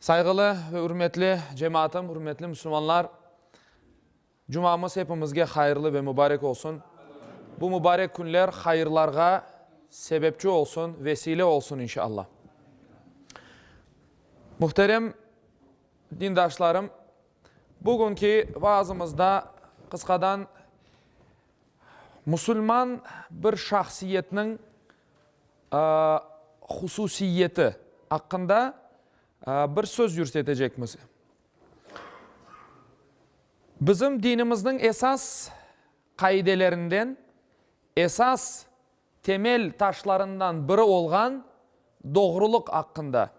Sayğılı ve ürmetli cemaatım, ürmetli müslümanlar, Cumamız hepimizge hayırlı ve mübarek olsun. Bu mübarek künler hayırlarğa sebepçi olsun, vesile olsun inşallah. Muhterem dindaşlarım, bugünki vaazımızda qısqadan müsülman bir şahsiyetniñ hususiyeti aqqında bir söz yürsetecekmiz. Bizim dinimizniñ esas qaidelerinden, esas temel taşlarından biri olğan doğrulıq aqqında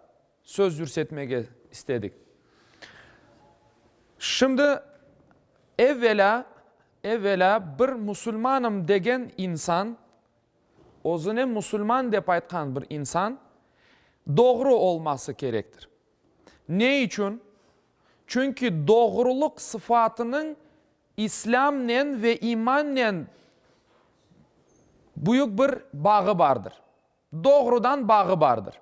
söz yürsetmege istedik. Şimdi, evvelâ, evvelâ bir musulmanım degen insan, Özüne musulman dep aytqan bir insan doğru olması kerektir. Ne içün? Çünki doğrulıq sıfatınıñ İslâmnen ve imannen büyük bir bağı bardır. Doğrudan bağı bardır.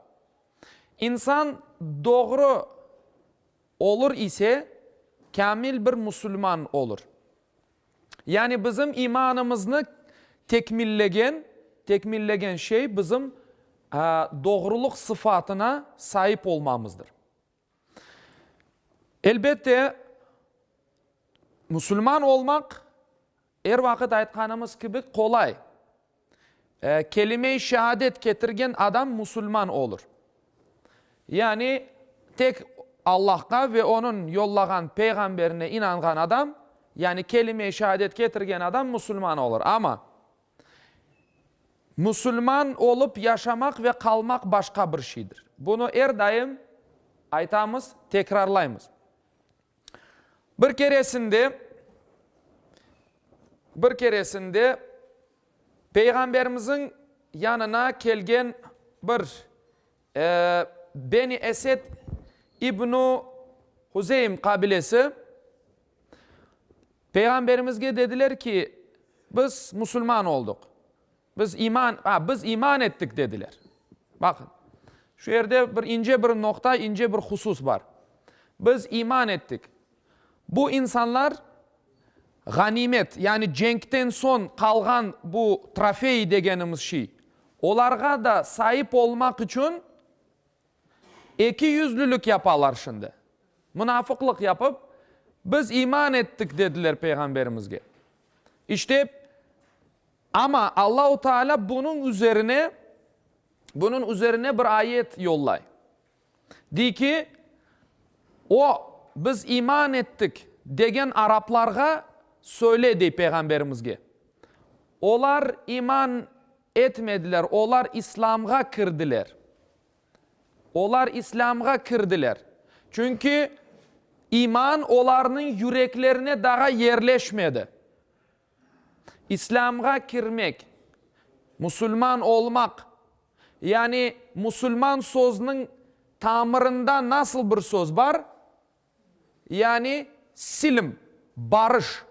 İnsan doğru olur ise, kâmil bir musulman olur. Yani bizim imanımıznı tekmillegen, tekmillegen şey bizim doğruluq sıfatına saip olmamızdır. Elbette, musulman olmaq, er vaqıt aytqanımız kibi, qolay. Kelime-i şehadet ketirgen adam musulman olur. Yani tek Allahqa ve Onıñ yollağan peyğamberine inanğan adam, yani kelime-i şehadet ketirgen adam musulman olur. Amma, musulman olıp yaşamaq ve qalmaq başqa bir şeydir. Bunı er daim aytamız, tekrarlaymız. Bir keresinde, bir keresinde Peyğamberimiziñ yanına kelgen bir, e, Beni Esed ibnu Huzeym qabilesi Peyğamberimizge dediler ki, biz musulman olduq. Biz iman, a, biz iman ettik, dediler. Baqıñ, şu yerde bir ince bir noqta, ince bir husus bar. Biz iman ettik. Bu insanlar ğanimet, yani cenkten soñ qalğan bu trofey degenimiz şey, olarğa da saip olmaq içün ekiyüzlülük yapalar şimdi. Munafıqlıq yapıp, biz iman ettik, dediler Peyğamberimizge. İşte, Amma Allahu Taalâ bunıñ üzerine, bunıñ üzerine bir ayet yollay. Dey ki, O, biz iman ettik, degen araplarğa söyle, dey Peyğamberimizge. Olar iman etmediler, olar İslâmğa kirdiler. Olar İslâmğa kirdiler. Çünki iman olarnıñ yüreklerine daa yerleşmedi. İslâmğa kirmek, musulman olmaq, yani musulman sözüniñ tamırında nasıl bir söz bar, yani silm, barış,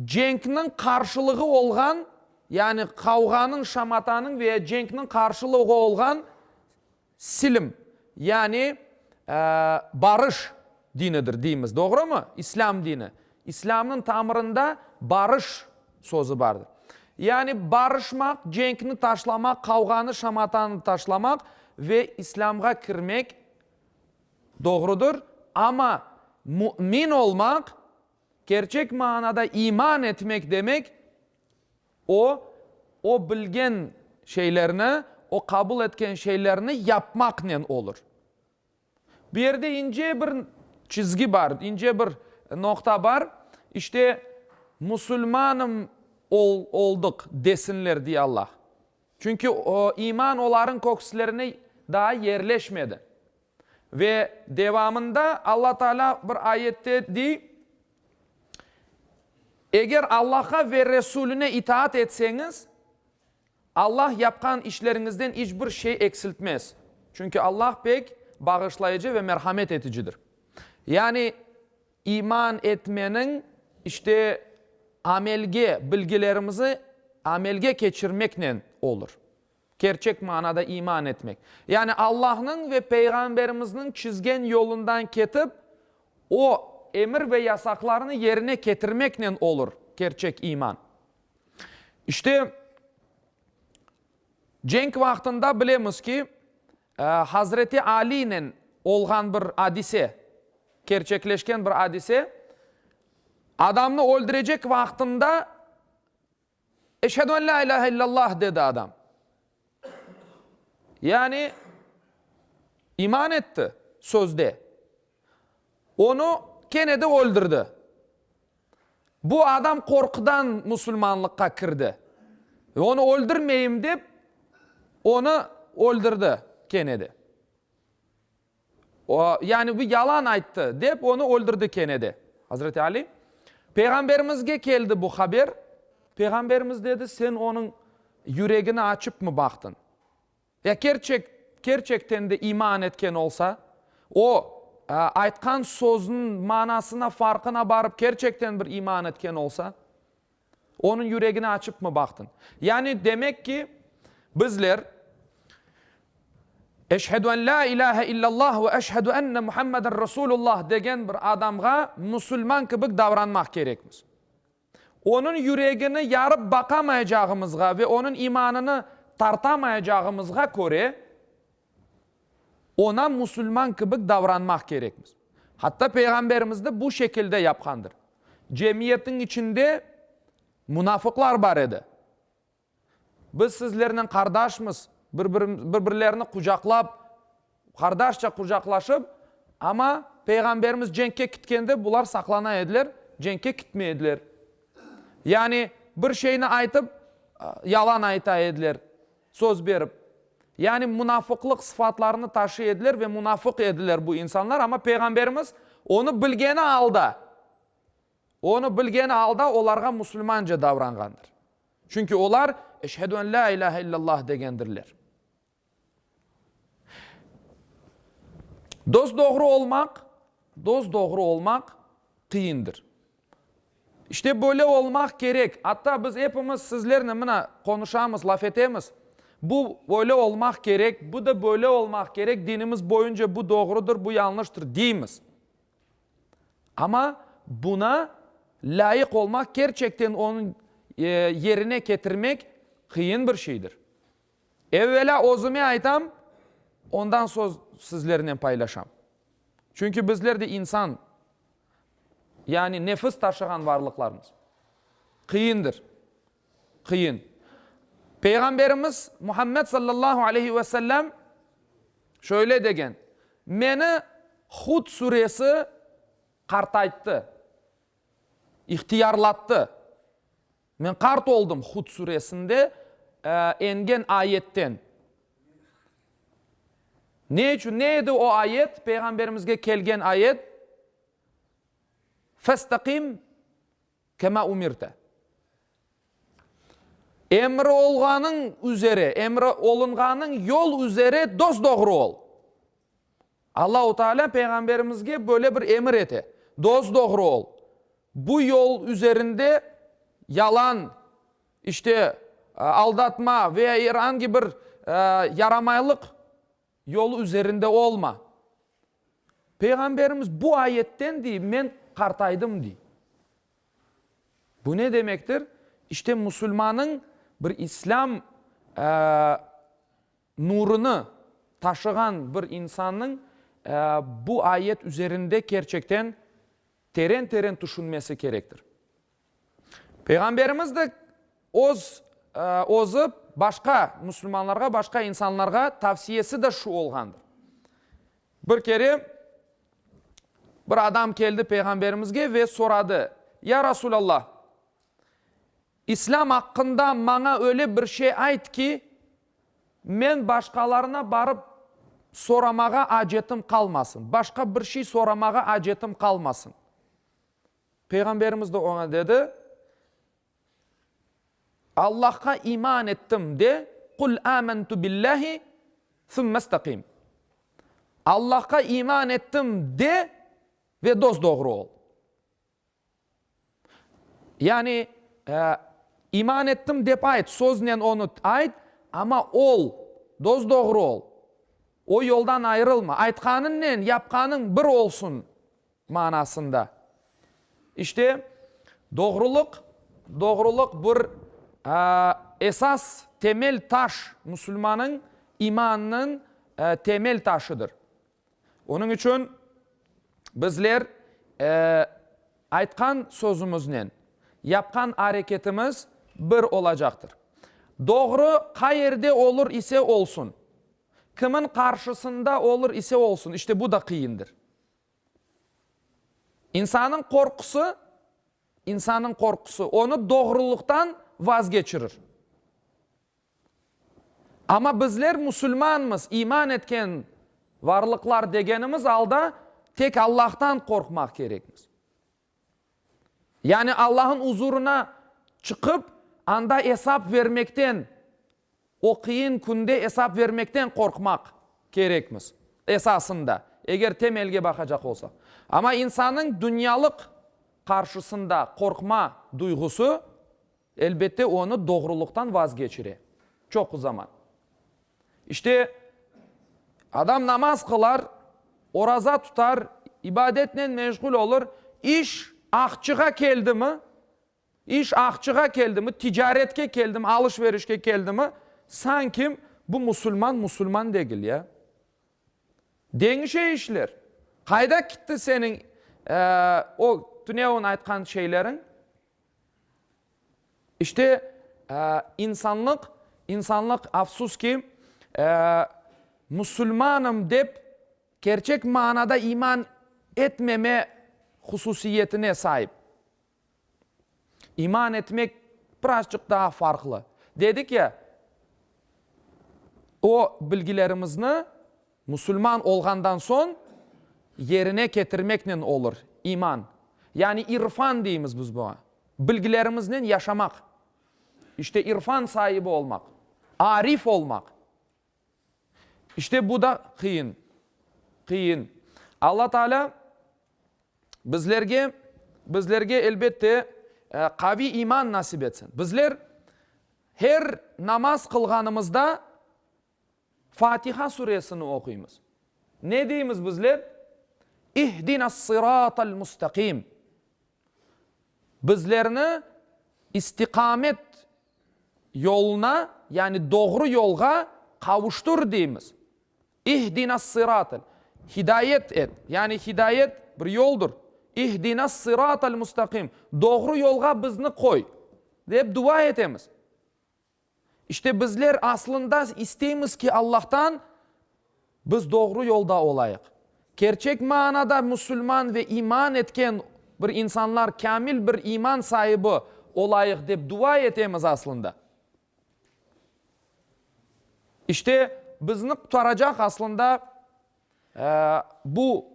cenkniñ qarşılığı olğan, yani qavğanıñ, şamatanıñ veya cenkniñ qarşılığı olğan, Silim, yani barış dinidir deymiz, doğrumı? İslâm dini. İslâmnıñ tamırında barış sözü bardır. Yani barışmaq, cenkni taşlamaq, qavğanı, şamatanı taşlamaq ve İslâmğa kirmek doğrudır. Amma mümin olmaq, kerçek manada iman etmek demek O, o bilgen şeylerni, o qabul etken şeylerni yapmaqnen olur. Bu yerde ince bir çizgi bar, ince bir noqta bar. İşte, musulmanım oldıq desinler diye Allah. Çünki iman olarnıñ kökslerine daa yerleşmedi. Ve devamında Alla Taalâ bir ayette dey, Eger Allahqa ve Resuline itaat etseñiz, Allah yapqan işleriñizden iç bir şey eksiltmez. Çünki Allah pek bağışlayıcı ve merhamet eticidir. Yani iman etmeniñ, işte, amelge, bilgilerimizi amelge keçirmeknen olur. Kerçek manada iman etmek, yani Allahnıñ ve Peyğamberimizniñ çizgen yolundan ketip, o emir ve yasaqlarını yerine ketirmeknen olur kerçek iman. İşte, cenk vaqtında bilemiz ki, Hazreti Aliynen olğan bir adise, kerçekleşken bir adise, adamnı öldürecek vaqtında, Eşhedü en la ilâhe illallah, dedi adam. Yani iman etti sözde. Onı kene de öldürdi. Bu adam qorqudan musulmanlıqqa kirdi. Onı öldürmeyim dep, onı öldürdi kene de. O, yani bu yalan ayttı, dep onı öldürdi kene de. Azreti Ali, Peyğamberimizge keldi bu haber. Peyğamberimiz dedi, sen onıñ yüregini açıpmı baqtın? Ya kerçek, kerçekten de iman etken olsa, o, aytqan sözüniñ manasına, farqına barıp kerçekten bir iman etken olsa? Onıñ yüregini açıpmı baqtıñ? Yani, demek ki, bizler Eşhedü en la ilâhe illallah ve eşhedü enne Muhammeden Resulullah degen bir adamğa musulman kibik davranmaq kerekmiz. Onıñ yüregini yarıp baqamayacağımızğa ve onıñ imanını tartamayacağımızğa köre, Oña musulman kibik davranmaq kerekmiz. Hatta Peyğamberimiz de bu şekilde yapqandır. Cemiyetniñ içinde munafıqlar bar edi. Biz sizlernen qardaşmız, bir-birlerini qucaqlap, qardaşça qucaqlaşıp, amma Peyğamberimiz cenkke kitkende bular saqlana ediler, cenkke kitmey ediler. Yani bir şeyni aytıp, yalan ayta ediler. Söz berip. Yani munafıqlıq sıfatlarını taşıy ediler ve munafıq ediler bu insanlar, amma Peyğamberimiz onı bilgeni alda, onı bilgeni alda olarğa musulmance davranğandır. Çünki olar Eşhedü en la ilâhe illallah degendirler. Dosdoğru olmaq, dosdoğru olmaq qıyındır. İşte böyle olmaq kerek. Atta biz epimiz sizlernen mına qonuşamız, laf etemiz. Bu böyle olmaq kerek, bu da böyle olmaq kerek, dinimiz boyunca bu doğrudır, bu yanlıştır, deymiz. Amma buna lâyıq olmaq, kerçekten onı yerine ketirmek qıyın bir şeydir. Evvelâ özüme aytam, ondan soñ sizlernen paylaşam. Çünki bizler de insan, yani nefis taşığan varlıqlarmız. Qıyındır, qıyın. Peyğamberimiz Muhammed sallallahu aleyhi ve sellem şöyle degen, Meni Hud suresi qartayttı, ihtiyarlattı. Men qart oldım, Hud suresinde engen ayetten. Ne içün? Ne edi o ayet? Peyğamberimizge kelgen ayet, Festaqim kema umirte. Emri olğanıñ üzere, emri olunğanıñ yol üzere dos-doğru ol. Allahu Taalâ Peyğamberimizge böyle bir emir ete, Dos-doğru ol. Bu yol üzerinde yalan, işte, aldatma ve ya er angi bir yaramaylıq yolu üzerinde olma. Peyğamberimiz bu ayetten dey, men qartaydım dey. Bu ne demektir? İşte, musulmanıñ bir İslâm Nurını taşığan bir insannıñ bu ayet üzerinde kerçekten teren-teren tüşünmesi kerektir. Peyğamberimiz de öz, özü başqa müslümanlarğa, başqa insanlarğa tavsiyesi de şu olğandır. Bir kere bir adam keldi Peyğamberimizge ve soradı, Ya Rasulallah, İslâm aqqında maña öyle bir şey ayt ki, Men başqalarına barıp soramağa acetim qalmasın, başqa bir şey soramağa acetim qalmasın. Peyğamberimiz de oña dedi, Allahqa iman ettim de, Qul âmentu billâhi, sümme istaqim. Allahqa iman ettim de ve dosdoğru ol. Yani, iman ettim dep ayt, söznen onı ayt, amma ol, dos-doğru ol, o yoldan ayırılma, aytqanıñnen yapqanıñ bir olsun manasında. İşte, doğrulıq, doğrulıq bir esas temel taş, musulmanıñ imanınıñ temel taşıdır. Onıñ içün bizler aytqan sözümiznen yapqan areketimiz bir olacaqtır. Doğru qay yerde olur ise olsun, kimiñ qarşısında olur ise olsun, işte bu da qıyındır. İnsannıñ qorqusı, insannıñ qorqusı onı doğruluqtan vazgeçirir. Amma bizler musulmanmız, iman etken varlıqlar degenimiz alda tek Allahtan qorqmaq kerekmiz. Yani Allah'ın uzurına çıqıp, anda esap vermekten, o qıyın künde esap vermekten qorqmaq kerekmiz, esasında, eger temelge baqacaq olsaq. Amma insannıñ dünyalıq qarşısında qorqma duyğusı Elbette, onı doğrulıqtan vazgeçire. Çoqu zaman. İşte, adam namaz qılar, oraza tutar, ibadetnen meşğul olur, iş aqçığa keldimi, iş aqçığa keldimi, ticaretke keldimi, alış-verişke keldimi, sanki bu musulman, musulman degil, ya. Deñişe işler. Qayda kitti seniñ, eee, o tünevin aytqan şeyleriñ? İşte, insanlıq, insanlıq, afsus ki, musulmanım dep kerçek manada iman etmeme hususiyetine saip. İman etmek birazçıq daa farqlı. Dedik ya, o bilgilerimizni Musulman olğandan soñ yerine ketirmeknen olur, iman, yani irfan deymiz biz buña, bilgilerimiznen yaşamaq, işte irfan saibi olmaq, arif olmaq. İşte bu da qıyın, qıyın. Alla Taalâ bizlerge, bizlerge elbette qaviy iman nasip etsin. Bizler her namaz qılğanımızda Fatiha suresini oquymız. Ne deymiz bizler? İhdinâs-sıratal mustaqim. Bizlerni istiqamet yoluna, yani doğru yolğa qavuştur deymiz. İhdinâs-sıratal. Hidayet et. Yani hidayet bir yoldur. İhdinâs-sıratal mustaqim. Doğru yolğa bizni qoy, dep dua etemiz. İşte, bizler aslında isteymiz ki, Allahtan biz doğru yolda olayıq. Kerçek manada musulman ve iman etken bir insanlar, kâmil bir iman saibi olayıq dep dua etemiz aslında. İşte, bizni qurtaracaq aslında bu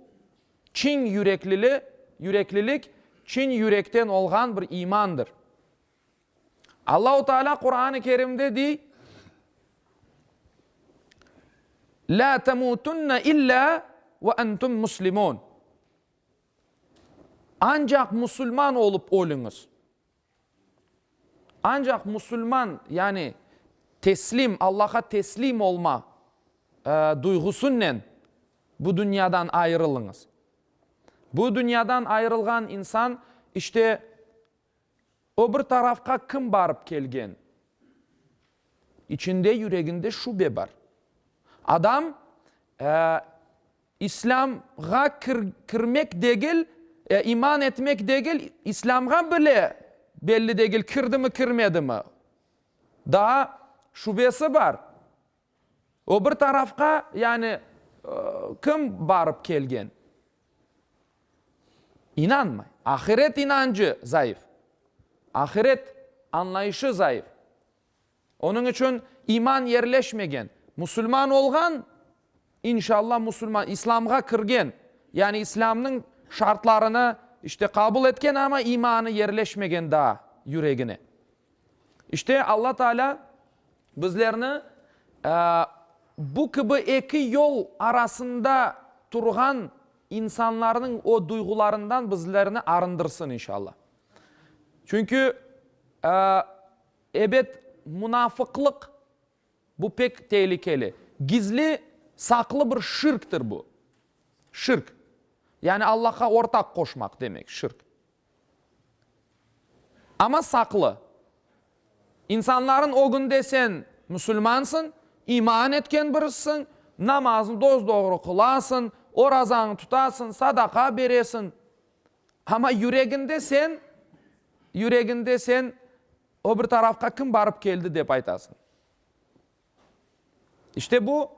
çiñ yüreklili, yüreklilik, çiñ yürekten olğan bir imandır. Allahu Teala Quran-ı Kerimde dey, La temutunne illa ve entum muslimun. Ancaq musulman olup ölüñiz. Ancaq musulman, yani teslim, Allaha teslim olma duyğusunnen bu dünyadan ayırılıñız. Bu dünyadan ayırılğan insan işte O bir tarafqa kim barıp kelgen? İçinde, yüreginde şübe bar. Adam İslâmğa kirmek degil, iman etmek degil, İslâmğa bile belli degil, kirdimi, kirmedimi. Daa şübesi bar. O bir tarafqa, yani, kim barıp kelgen, inanmay. Ahiret inancı zayıf, ahiret añlayışı zayıf. Onıñ içün iman yerleşmegen. Musulman olğan, inşalla musulman, islamğa kirgen, yani islamnıñ şartlarını, işte, qabul etken, amma imanı yerleşmegen daa yüregine. İşte, Alla Taalâ bizlerni bu kibi eki yol arasında turğan insanlarnıñ o duyğularından bizlerni arındırsın, inşalla. Çünki, ebet, munafıqlıq, bu pek tehlikeli. Gizli, saqlı bir şirktir bu. Şirk, yani Allahqa ortaq qoşmaq demek, şirk. Amma saqlı. İnsanların ögünde sen musulmansıñ, iman etken birisiñ, namaznı doz-doğru qılasıñ, orazañı tutasıñ, sadaqa beresiñ. Amma yüreginde sen, yüreginde sen öbür tarafqa kim barıp keldi dep aytasıñ. İşte bu,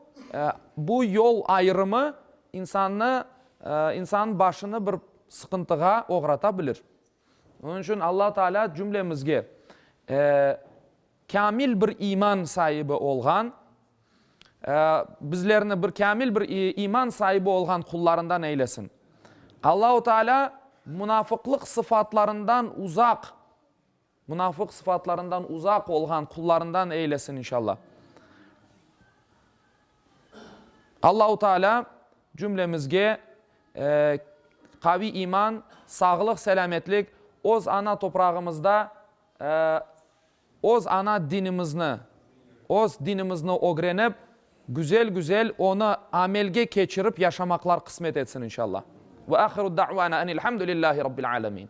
bu yol ayırımı insannı, insannıñ başını bir sıqıntığa oğrata bilir. Onıñ içün Alla Taalâ cümlemizge kamil bir iman saibi olğan, bizlerni bir kamil bir iman saibi olğan qullarından eylesin. Allahu Taalâ munafıqlıq sıfatlarından uzaq Munafıq sıfatlarından uzaq olğan qullarından eylesin inşallah. Allahu Teala cümlemizge qaviy iman, sağlıq, selâmetlik, öz ana toprağımızda öz ana dinimizni, öz dinimizni ögrenip, güzel-güzel onı amelge keçirip yaşamaqlar qısmet etsin inşallah. Ve ahiru da'vana enilhamdülillahi Rabbil âlemin.